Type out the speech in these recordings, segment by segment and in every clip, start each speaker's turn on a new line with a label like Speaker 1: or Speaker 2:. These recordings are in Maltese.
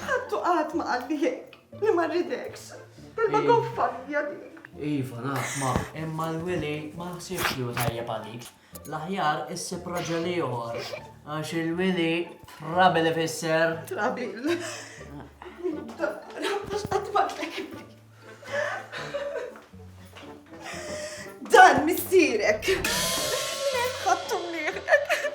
Speaker 1: Ħattu qatt ma qalli hekk, li ma rridekx. Kelma Iva. goffa hija dik. Iva, naf, ma,
Speaker 2: imma l-wili ma ħsibx li hu tajjeb għalik. L-aħjar issib raġel ieħor, għax il-wili trabi li fisser. Trabil.
Speaker 1: Għax qatt ma tlek. Dan missierek. Minn hemm ħattu mnieħrek.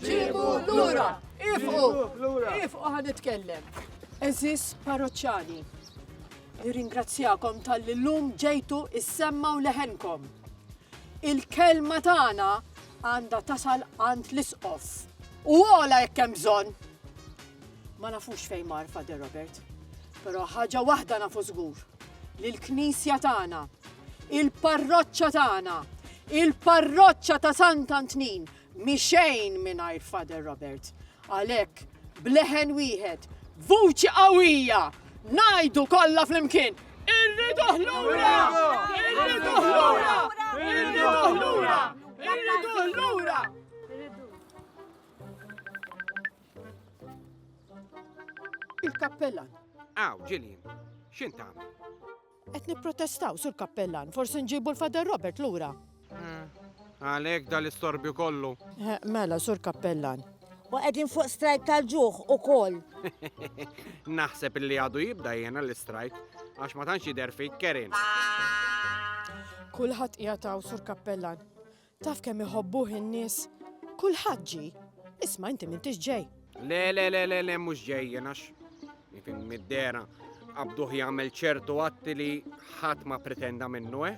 Speaker 3: Ġibu lura! Ifqu! Ifqu ħan nitkellem. Eżis parroċċani, nirringrazzjakom tal-li l-lum ġejtu is-semma u leħenkom. Il-kelma tagħna għandha tasal għand l-isqof. U għola jekk hemm bżonn. Ma nafux fejn mar Fader Robert, però ħaġa waħda nafu żgur li l-knisja tagħna, il-parroċċa tagħna, il-parroċċa ta' Sant Antnin Mhi xejn mingħajr Father Robert. Għalhekk, b'leħen wieħed, b'vuċi qawwija, ngħidu kollha flimkien, Irriduh lura! Irriduh lura! Irriduh lura! Irriduh lura! Il-kappellan. Aw, Ġilien,
Speaker 4: x'int tagħmel? Qed
Speaker 3: nipprotestaw, Sur Kappellan, forsi nġibu l-Father Robert lura.
Speaker 4: Għalhekk dal-istorbju kollu. Eh, mela, Sur
Speaker 3: Kappellan. U qegħdin fuq
Speaker 5: strajk tal-ġuħ ukoll.
Speaker 4: Naħseb li għadu jibda jiena l-istrajk għax ma tantx jidher fik kerin.
Speaker 3: Kulħadd qiegħed Sur Kappellan. Taf kemm iħobbuh in-nies? Kulħadd ġie. Isma' inti m'intix ġej. Le, le, le, le, le,
Speaker 4: mhux ġej jenax. Nifhem mid-dera qabduh jagħmel ċertu atti li ħadd ma pretenda minnu, eh?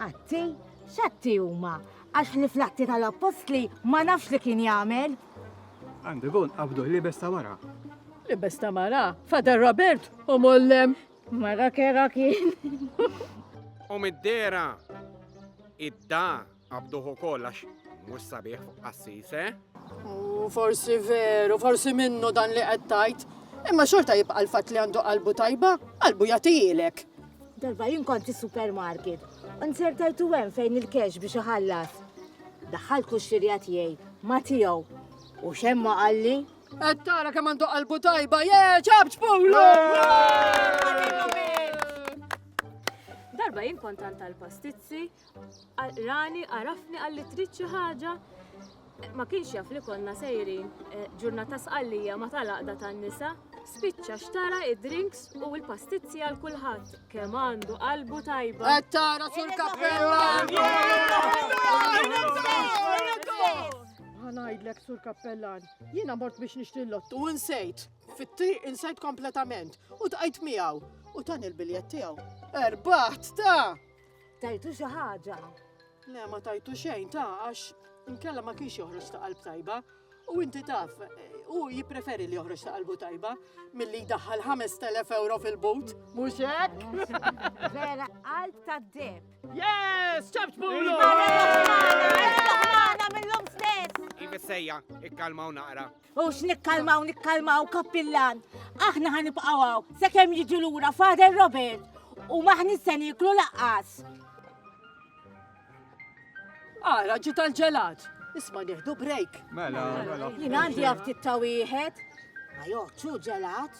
Speaker 4: Atti?
Speaker 5: X'atti huma? Għax li fl-atti tal-appostli ma nafx li kien jagħmel. Għandu
Speaker 6: gon qabduh libes ta' wara. Libes ta'
Speaker 3: mara, Fader Robert u mollem. Mara kera
Speaker 5: kien.
Speaker 4: U mid-dera id-da għabduħu kollax mux sabiħ fuq qassis, eh? U
Speaker 3: forsi veru, forsi minnu dan li għettajt. Imma xorta jibqa l-fat li għandu qalbu tajba, qalbu jatijilek. Darba jien
Speaker 5: konti supermarket, unzertajtu għem fejn il-kex biex iħallas. Daħħal kuxxirja tiegħi ma tiegħu. U xemma qalli Qed tara kemm
Speaker 3: għandu qalbu tajba, je, ċabċ pulu!
Speaker 7: Darba jien kont għand tal-pastizzi, rani għarafni għalli trid xi ħaġa ma kienx jaf li konna sejrin eh, ġurnata sqallija ma tal-aqda tan-nisa, spiċċa xtara id-drinks u l-pastizzi għal kulħadd kemm għandu qalbu tajba. Qed tara sur
Speaker 3: kappella! Ħanajdlek sur kappellan, Jiena mort biex nixtri l-lottu u nsejt. Fit-triq insejt kompletament u tqajt miegħu u tan il-biljett tiegħu. Erbaħt ta! Tajtu xi
Speaker 5: ħaġa. Le ma
Speaker 3: tajtu xejn ta' għax inkella ma kienx joħroġ ta' qalb tajba. U inti taf, u jippreferi li joħroġ ta' qalbu tajba milli jdaħħal 5000 euro fil-but. Mhux hekk? Vera
Speaker 5: qalb ta' deb. Yes! ċabt
Speaker 3: bulu! Għana
Speaker 5: mill-lum stess! Iva sejja,
Speaker 4: ikkalmaw naqra. U x'nikkalmaw,
Speaker 5: nikkalmaw kappillan. Aħna ħanibqawaw, se kem jiġu lura Father Robert u maħni se niklu laqqas.
Speaker 3: Ara, ġi tal-ġelat. Isma nieħdu break. Mela, mela.
Speaker 6: Jien għandi
Speaker 5: għaftit ta' wieħed. Ma joħċu ġelat.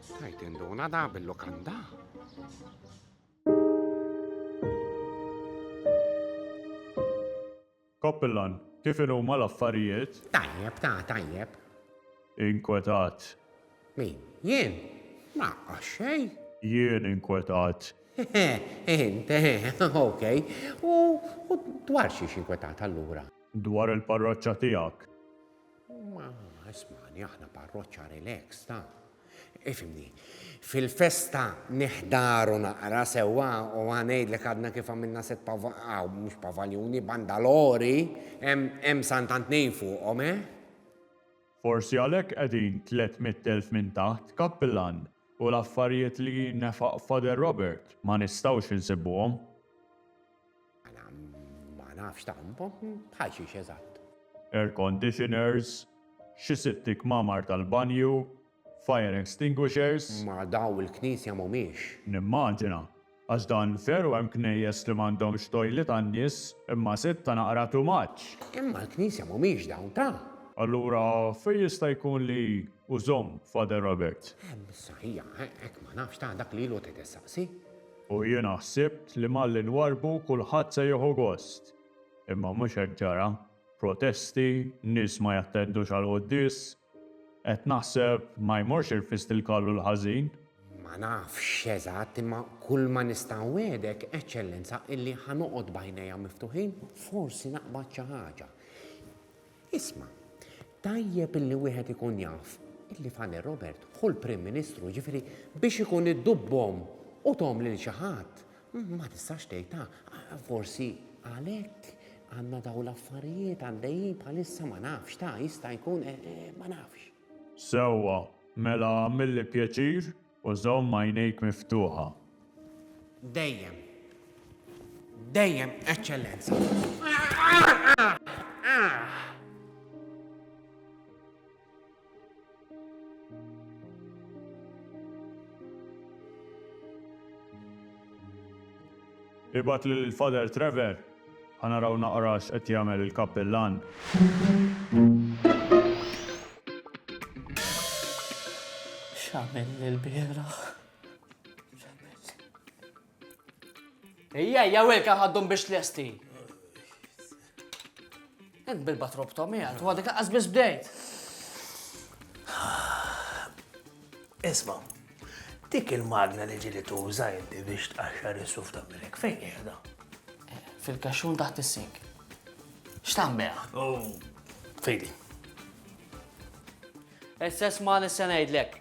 Speaker 4: Stajt induna da bil-lokanda.
Speaker 8: Koppillan, kif huma l-affarijiet? Tajjeb, ta' tajjeb. Inkwetat. Min?
Speaker 4: Jien? Ma xej. Jien
Speaker 8: inkwetat. Int,
Speaker 4: ok. U dwar xiex inkwetat allura? Dwar il-parroċċa
Speaker 8: tiegħek. Ma
Speaker 4: ismani aħna parroċċa relax ta. Ifimni, fil-festa nihdaru naqra sewwa u ngħidlek għadna kif għamilna set pavaw, mhux pavaljuni, bandalori, hemm santant tnejn fuqhom, eh?
Speaker 8: Forsi għalhekk qegħdin tliet mitt elf minn taħt, Kappillan, u l-affarijiet li nefaq Father Robert ma nistgħux insibuhom. Għana
Speaker 4: ma nafx tampa, bħal xiex eżatt. Air
Speaker 8: conditioners, xi sitti kmamar tal-banju, fire extinguishers. Ma daw il-knisja
Speaker 4: mhumiex. Nimmaġina,
Speaker 8: għax dan veru hemm knejjes li m'għandhomx toilet għan-nies, imma sitta naqra too much. Imma l-knisja
Speaker 4: mhumiex dawn ta'. Allura
Speaker 8: fejn jista' jkun li hu żomm Father Robert? Ehm, saħiha,
Speaker 4: hekk ma nafx ta' dak li ilu qed issaqsi. U jiena
Speaker 8: ħsibt li malli nwarrbu kulħadd se jieħu gost. Imma mhux hekk ġara. Protesti, nies ma jattendux għall-quddies. Qed naħseb, ma jmorx irfist il-kallu l-ħażin? Ma nafx
Speaker 4: eżatt, imma kulma nista' nwegħdek, Eċċellenza, illi ħa noqgħod b'għajnejja miftuħin, forsi naqbad xi ħaġa. Isma', tajjeb illi wieħed ikun jaf illi Fane Robert hu l-Prim Ministru, jiġifieri biex ikun iddubbhom u thom lil xi ħadd, ma tistax tgħid ah, forsi għalhekk għandna dawn l-affarijiet għaddejjin bħalissa ma nafx, ta' jista' jkun eh, eh, ma nafx. Sewwa,
Speaker 8: mela għamilli pjaċir, U żomm għajnejk miftuħa. Dejjem.
Speaker 4: Dejjem, Eċċellenza.
Speaker 8: Ibgħat lil Father Trevor, ħa naraw naqra x'qed jagħmel il-kappillan.
Speaker 2: X'għamilli l-bieraħ? Ejja, ejja Wilka ħaddhom biex tlesti. Int bilba trop Tommy għad, u għadek għaz biss bdejt.
Speaker 9: Isma, dik il-magna li ġili tuża inti biex tqaxxar is-suf ta' milek fejn qiegħda? Fil-kaxxun
Speaker 2: taħt is-sink. X'tan beha? Oh.
Speaker 9: Fejdi.
Speaker 2: Issa isma' li se ngħidlek,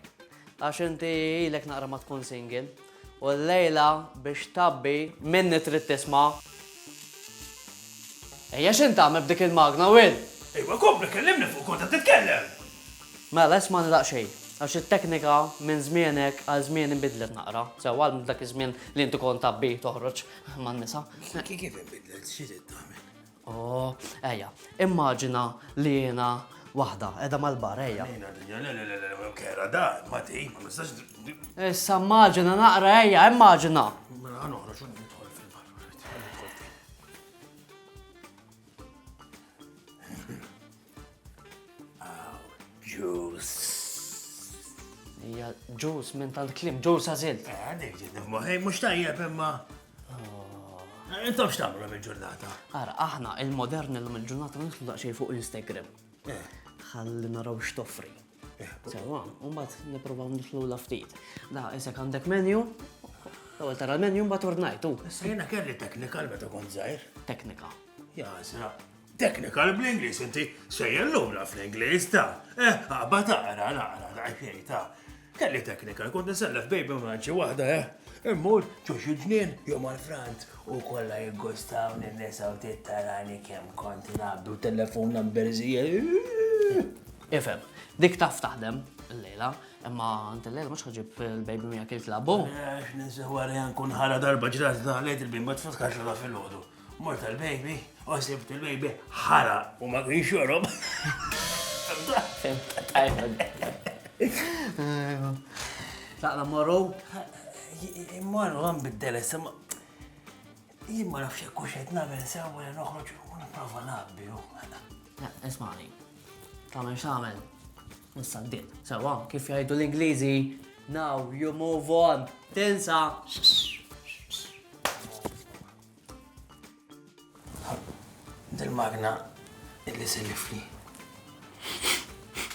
Speaker 2: għax inti ilek naqra ma tkun single, u l-lejla biex tabbi minni trid tisma'. Ejja x'int tagħmel b'dik il-magna, Will? Ejwa kompli kellimni
Speaker 9: fuq kont qed titkellem! Mela
Speaker 2: ismagħni daqsxejn, għax it-teknika minn żmienek għal żmieni nbidlet naqra, sewwa għal dak iż-żmien li inti kont tabbi toħroġ man-nisa. Kif inbidlet,
Speaker 9: xi trid tagħmel? Oh,
Speaker 2: ejja, immaġina li jiena waħda, edha mal-bar, ejja. Ejna dinja, le, le, le, le, le,
Speaker 9: kera, da, ma ti, ma nistax. Issa
Speaker 2: immaġina naqra, ejja, immaġina. Mela, għan uħra, xun
Speaker 9: nidħol fil-bar.
Speaker 2: Hija ġus minn tant klim, ġus għażilt. Eh, dik ġiet nifmoħi,
Speaker 9: mhux tajjeb imma. Oh. Eh, intom x'tagħmlu mill-ġurnata? Ara, aħna
Speaker 2: il-modern illum il-ġurnata nitlu daqsxejn fuq Instagram. Eh. Ħalli naraw x'toffri. Sewa, un bat niprovaw nitlu la ftit. Da, isek għandek menu, L-ewwel tara l-menu mbagħad ordnajtu. Issa jiena kelli
Speaker 9: technical meta kont żgħir. Teknika.
Speaker 2: Ja, sra.
Speaker 9: Technical bl-Ingliż inti sejjer lura fl-Ingliż ta. Eh, ħabba taqra, naqra, daqxej ta. Kelli technical, kont nisellef baby maġi waħda, eh. Immur, ġuġ il-ġnien, jom għal-frant, u kolla jiggustaw n-nisa u tittarani kem kont nabdu telefon number zija.
Speaker 2: Ifhem, dik taf taħdem l-lejla, imma għand l-lejla mhux ħaġib il-baby miegħek il-klabu. Għax eh, ninsa
Speaker 9: wara jan kun ħara darba ġrat da lejt il-baby ma tfakkarx la fil-ħodu. Mort il-baby, u sibt il-baby ħara u ma kienx jorob.
Speaker 2: Taqla morru?
Speaker 9: Morru għan bid-deles, Jien ma nafx jekk hux qed nagħmel sew wara noħroġ u nipprova naqbi hu. Ismani,
Speaker 2: tagħmel x'għamel. Nista' d Sewwa, kif jgħidu l-Ingliżi, now you move on. Tinsa!
Speaker 9: Dil-magna illi sellifli.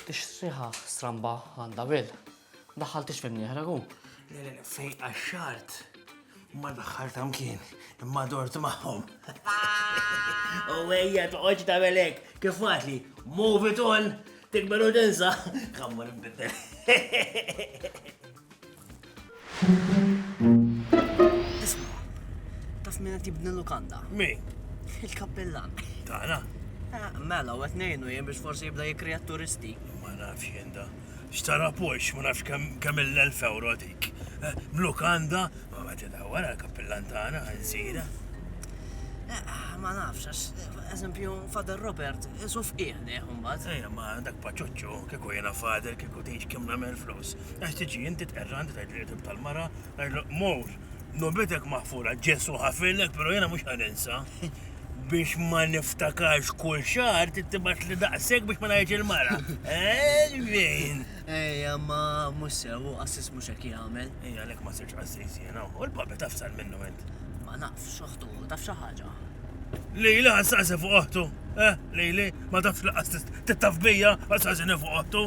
Speaker 2: Tixtriħa stramba għandha bil. Daħħaltix fejn jihra hu. Le, le, fejn
Speaker 9: qaxxart. Ma daħħalt kien, imma dort magħhom. U ejja toqgħodx tagħmel hekk, kif għadli, move it on, tikberu tinsa, kammur imbidel.
Speaker 2: Taf minna tibni lukanda? Mi?
Speaker 9: Il-kappellan.
Speaker 2: Tana?
Speaker 9: Eh, mela,
Speaker 2: u għetnejnu jem biex forsi jibda jikrijat turisti. Ma nafx jenda.
Speaker 9: Xtara Porsche, ma nafx kemm il-elf euro dik. Eh, Mlukanda, ma ma tidawwar għal kappillan tagħna nsira.
Speaker 2: Eh, ma nafx, għax eżempju Fader Robert, isu fqih liħ mbagħad. Ejja, ma dak paċuċċu,
Speaker 9: kieku jiena fader, kieku tgħix kemm nagħmel flus. Għax tiġi inti tqerra għandi tgħid li tal-mara, għajlu mur. Nobetk maħfura, Ġesu' ħafirlek pero' jiena mhux ħa ninsa. Biex ma niftakarx kull xahar trid tibgħatli daqshekk biex ma ngħidx il-mara. Elvin! Ejja,
Speaker 2: ma mhux sew, u qassis mhux hekk jagħmel. Ejja, għalhekk ma sirx
Speaker 9: qassis jiena. U l-papi taf sar minnu int. Ma nafx, oħtu,
Speaker 2: taf xi ħaġa. Lili
Speaker 9: ħassaqsi fuq oħtu. Eh, Lili, ma tafx li qassis tittaf bija, ħassaqsini fuq oħtu.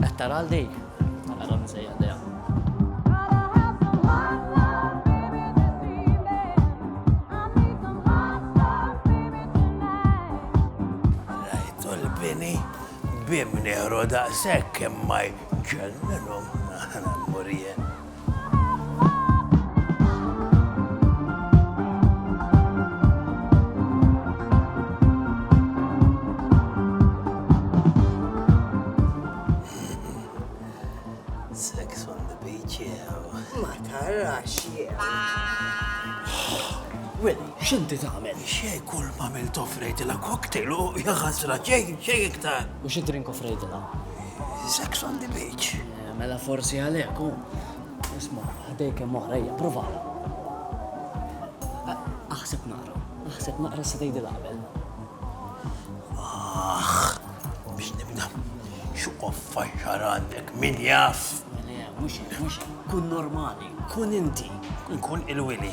Speaker 2: Qed tara għal dik? Mela għadhom nsejjaħ dejha.
Speaker 9: Bini, bim neħru daqsek kemm ma jċellinhom naħna murjen.
Speaker 2: x'inti tagħmel? Xej kull ma mill
Speaker 9: tofrejdilha cocktail u jaħasra xejn xejn iktar. U xi drink offrejdilha?
Speaker 2: Sex
Speaker 9: on the beach. Mela forsi
Speaker 2: għalhekk hu. Isma' ħdej kemm oħra hija provala. Aħseb naqra, aħseb naqra se tgħidi l-qabel. Aħ,
Speaker 9: biex nibda. Xuqof faxxar għandek min jaf. Le, mhux
Speaker 2: mhux kun normali, kun inti. Kun il-wili.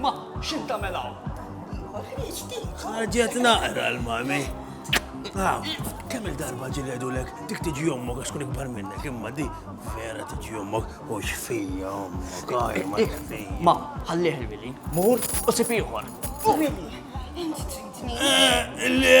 Speaker 2: Ma, x'int tagħmel hawn?
Speaker 9: Ġiet naqra l-mami. Kemm il-darba ġieli għedulek dik tiġi ommok għax kun ikbar minnek imma di vera tiġi ommok u xfija ommok għaj ma xfija. Ma, ħallih
Speaker 2: il-Willi, mur u sib ieħor.
Speaker 1: Willi, inti tridni. Eh, le,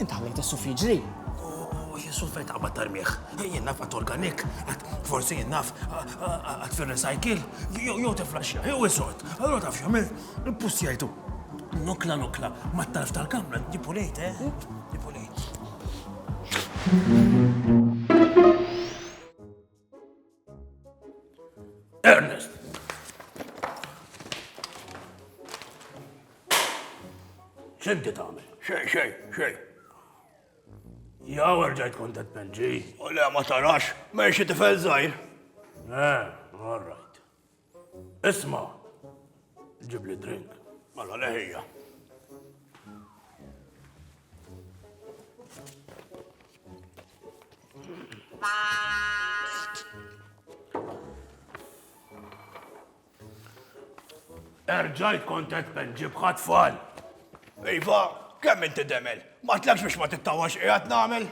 Speaker 2: Int ħallejt is-suf jiġri. U jien suf
Speaker 9: qed qabad tarmih. Jien naf għad organik, għad forsi jien naf għad fir-recycle, jew tiflaxja, jew isod. Allura taf x'għamil, pussjajtu. Nokla nokla, mat-tarf tal-kamra, dipulejt, eh? Dipulejt. Ernest! ċinti tagħmel? Xej, xej, xej. Ja, ġajt kont qed penġi. U le ma tarax,
Speaker 10: mexi tifel żgħir. Eh,
Speaker 9: all right. Isma, ġib li drink. Mala leħija. Erġajt kontet ben ġibħat fall. Iva,
Speaker 10: kemm inti demel? Ma tlekx biex ma tittawax qiegħed nagħmel?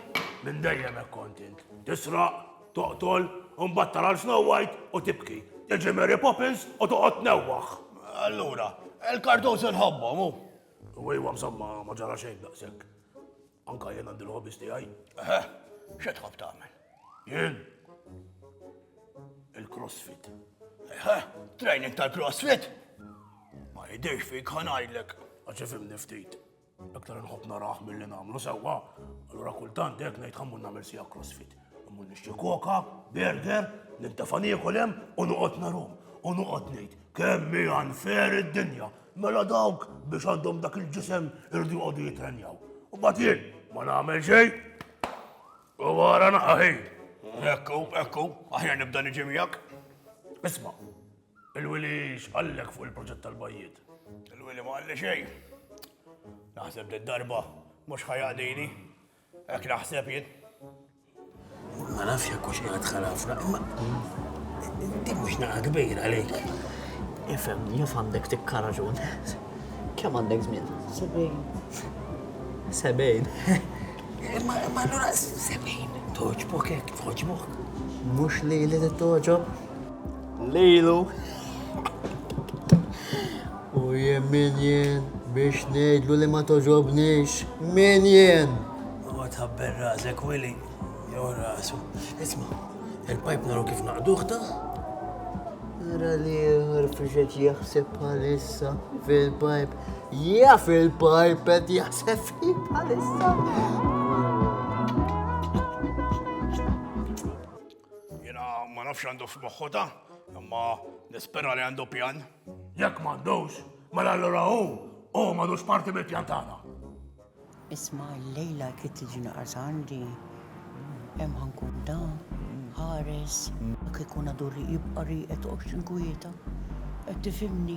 Speaker 10: Minn dejjem
Speaker 9: hekk kontent. Tisraq, Toqtol, u mbagħad tara 'l Snow White u tibki. Tiġi Mary Poppins u toqgħod tnewwaħ. Allura,
Speaker 10: il-cartoons inħobbhom, u? U iwa, msomma,
Speaker 9: ma ġara xejn daqshekk. Anka jien għandi l-hobbies tiegħi. Eħe, xi
Speaker 10: tħobb tagħmel? Jien?
Speaker 9: Il-crossfit. Eħe,
Speaker 10: training tal-crossfit? Ma jidhirx fik ħa ngħidlek. Għax ifhimni ftit.
Speaker 9: Aktar nħobb naraħ mill-li namlu sewwa, allura kultant dek ngħid ħammur nagħmel sija crossfit. Ħammur nixtri koka, burger, nintafa niekol hemm u noqgħod narum. U noqgħod ngħid kemm hi unfair id-dinja. Mela dawk biex għandhom dak il-ġisem irdu joqogħdu jitrenjaw. U bagħad jien ma nagħmel xejn. U wara naqaħi. Ekku,
Speaker 10: ekku, aħjar nibda niġi miegħek. Isma',
Speaker 9: Il-wili x'qallek fuq il-proġett tal-bajjiet? Il-wili ma qalli
Speaker 10: xejn. Naħseb did-darba mhux ħa jaqdini. Hekk naħseb jien.
Speaker 9: Ma nafx jekk hux qiegħed ħarafra, imma din mhux naqa' kbira għalik. Ifhem,
Speaker 2: jaf għandek tikka raġun. Kemm għandek żmien? Sebgħin. Sebgħin.
Speaker 9: Imma allura sebgħin. Toġbok hekk, toġbok. Mhux li
Speaker 2: li toġob. Lilu. U jien min jien biex ngħidlu li ma toġobnix. Min jien? Għod ħabber
Speaker 9: razek, Willy. Jew rasu. Isma, il-pajp naru kif naqduħ ta?
Speaker 2: Nara li rfriġet jaħseb bħalissa fil-pajp. Ja fil-pajp qed jaħseb fil bħalissa.
Speaker 10: Jiena ma nafx għandu f'moħħu da, imma nispera li għandu pjan. Jekk m'għandux,
Speaker 9: mela allura hu hu m'għadux parti mill-pjan tagħna. Isma'
Speaker 11: llejla kif tiġi naqas għandi, hemm ħankun da, ħares, jekk ikun għadu jibqa' rieqed toqgħodx inkwieta. Qed tifhimni?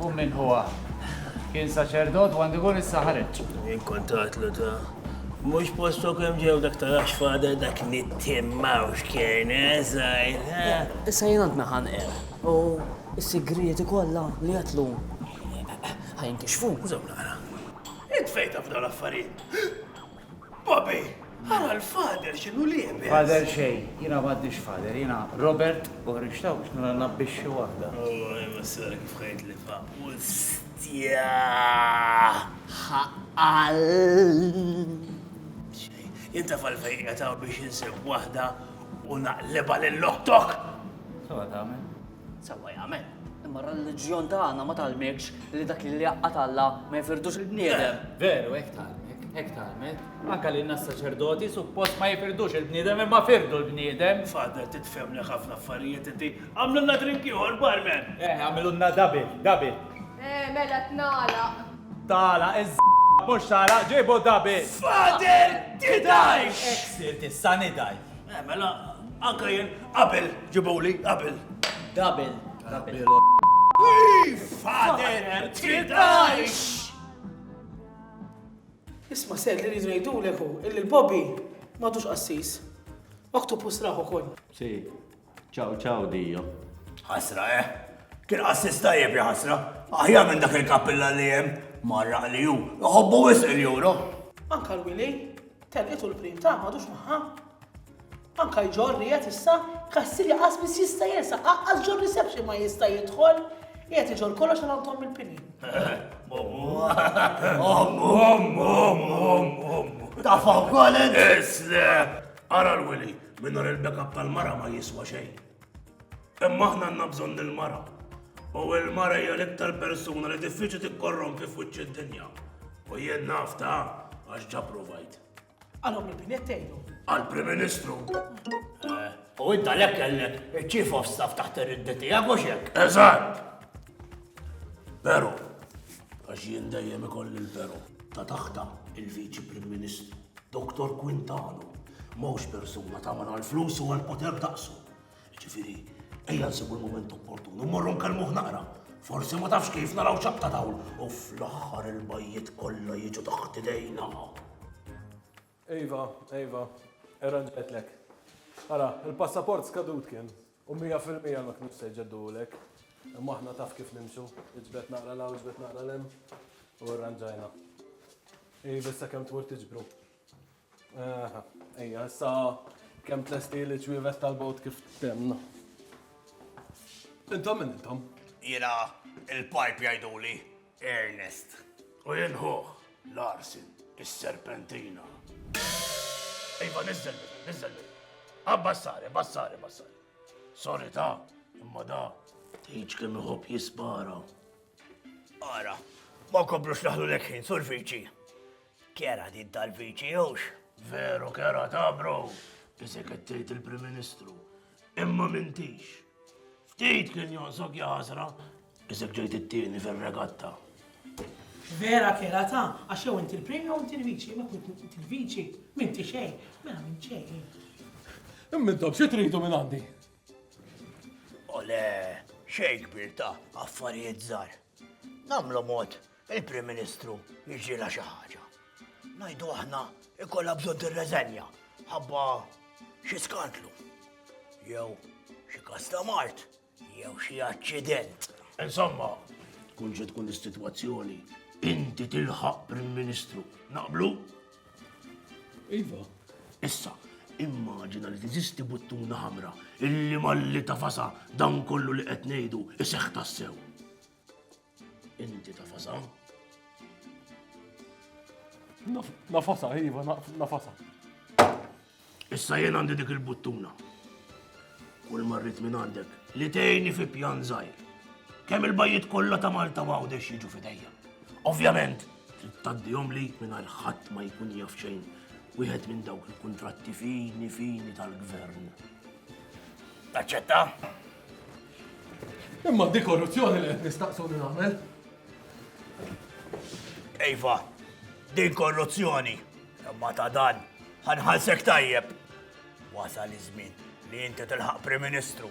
Speaker 6: U min huwa? Kien saċerdot u għandu jkun issa ħareġ. Jien kont għatlu
Speaker 9: ta' mhux postok hemm ġew dak tarax fada dak nittimmaw x'kien eżajr. Eh, eh, issa jien għandna
Speaker 2: ħanqer. U s-sigrieti kollha li jatlu. Ħajn kixfu, żew nara.
Speaker 9: Int fejta f'dawn l-affarijiet. Bobby, ara l-father x'inhu liebes. Father xejn, jiena
Speaker 6: m'għandix father, jiena Robert u ħriġt hawn biex nara nnabbixxi waħda. Alla jbissar
Speaker 9: kif ħejt li faq. Ustja!
Speaker 2: Ħaqan! Xejn,
Speaker 9: jien taf għalfejn qiegħed hawn biex insib waħda u naqlibha lil oħtok! Sewa
Speaker 6: tagħmel. Sewwa jagħmel.
Speaker 2: Imma r-reliġjon tagħna ma tgħallmekx li dak li jaqqa' Alla ma jifirdux il-bniedem. Veru, hekk tgħallmek,
Speaker 6: hekk tgħallmek. Anke lilna s-saċerdoti suppost ma jifirdux il-bniedem imma firdu l-bniedem. Father titfhemlek
Speaker 9: ħafna affarijiet inti. Agħmlulna drink ieħor, barman! Eh, agħmilulna double,
Speaker 6: double. Eh, mela
Speaker 7: tnagħlaq. Tagħlaq
Speaker 6: iż mhux tagħlaq, ġibu double. Father,
Speaker 9: tidhajx! Hekk sirt issa
Speaker 6: nidhaj. Eh, mela,
Speaker 9: anka jien, qabel, ġibuli, qabel. Qabel,
Speaker 2: qabel.
Speaker 9: Fader, tidajx!
Speaker 3: Isma' ser li rridu ngħidulek hu illi l-Bobby m'għadux qassis. Oktopus raħ ukoll. Si,
Speaker 8: ċaw ċaw dijo. Ħasra, eh?
Speaker 10: Kien qassis tajjeb ja ħasra. Aħjar minn dak il-kappilla li hemm marra li hu. Iħobbu wisq il-juro. Anka l-wili,
Speaker 3: Telqet u l-prim tagħha m'għadux magħha. Anke jġorr qiegħed issa, kassirja qas biss jista' jersaq, aqqas ġo reception ma jista' jidħol. Qiegħed iġorr kollox għal għand il-pini.
Speaker 10: Ta' fuq kolin! Isle!
Speaker 9: Ara l-wili, minnu il-backup tal-mara ma jiswa xejn. Imma aħna għandna bżonn il-mara. U il-mara hija l-iktar persuna li diffiċli tikkorrompi f'wiċċ id-dinja. U jien naf ta' għax ġa provajt. Għalhom il-binet
Speaker 3: tgħidu. Għal-Prim Ministru.
Speaker 10: U idda lek kellek il-Chief of Staff taħt ir-riddi tiegħek u xek. Eżatt.
Speaker 9: Pero, għax jien dejjem ikolli l-pero ta' taħta il-Viċi Prim Ministru. Doktor Quintano ma hux persuna tagħmel għall-flus u għall-poter daqsu. Ġifieri, ejja nsibu l-mument opportun u morru nkellmuh naqra. Forsi ma tafx kif naraw ċaqta dawl u fl-aħħar il-bajjiet kollha jiġu taħt idejna.
Speaker 12: Iva, iva, irranġetlek. Ara, il-passaport skadut kien. U mija fil-mija ma kinux se jġeddulek. Imma aħna taf kif nimxu, iġbed naqra l-hawn, iġbed naqra l-hemm, u rranġajna. Ej, biss sakemm tmur tiġbru. Aha, ejja, issa kemm tlesti li ċwievet tal-bot kif temna. Intom minn intom? Jiena
Speaker 10: il-pipe jgħiduli. Ernest, u jien
Speaker 9: ħuh. Larsen, is-serpentina. Iva, niżżel minna, niżżel minna. Abbassare, bassare, bassare. Sorry ta, imma da. Tiġ kemm iħobb jispara.
Speaker 10: Ara, ma kobrux naħlu l-ekħin, sur viċi. Kera din tal-viċi, jux? Veru, kera
Speaker 9: ta, bro. Isek qed tgħid il-Prim Ministru. Imma m'intix. Ftit kien jonqsok ja ħasra, isek ġejt it-tieni fir-regatta.
Speaker 3: Vera kera ta' għax jew inti l-premju jew inti l-viċi, ma kont inti l-viċi, m'inti xejn, mela minn xejn. Imma
Speaker 12: intom xi tridu minn għandi? Ole,
Speaker 10: xejn kbir ta' affarijiet żgħar. Nagħmlu mod Il-Prim Ministru jiġrilha xi ħaġa. Ngħidu aħna ikollha bżonn tirreżenja ħabba xi skandlu. Jew xi kas ta' mart, jew xi aċċident. Insomma,
Speaker 9: tkun xi tkun is-sitwazzjoni, inti tilħaq Prim Ministru. Naqblu?
Speaker 12: Iva. Issa,
Speaker 9: immaġina li tiżisti buttuna ħamra illi malli tafasa dan kollu li qed ngħidu iseħħ tassew. Inti ta' fasa?
Speaker 12: Nafasa, iva, nafasa.
Speaker 9: Issa jien għandi dik il-buttuna. Kull marrit minn għandek li tejni fi pjan zaħir. Kemm il-bajiet kollha ta' Malta u għawdex jiġu fidejja. Ovvjament, taddihom li minn ħadd ma jkun jaf xejn wieħed minn dawk il-kuntratti fini fini tal-gvern.
Speaker 10: Taċċetta?
Speaker 12: Imma di korruzzjoni li qed nistaqsuni nagħmel.
Speaker 10: Ejfa, din korruzzjoni, imma ta' dan, ħanħalsek tajjeb. Wasal iż-żmien li inti tilħaq Prim Ministru.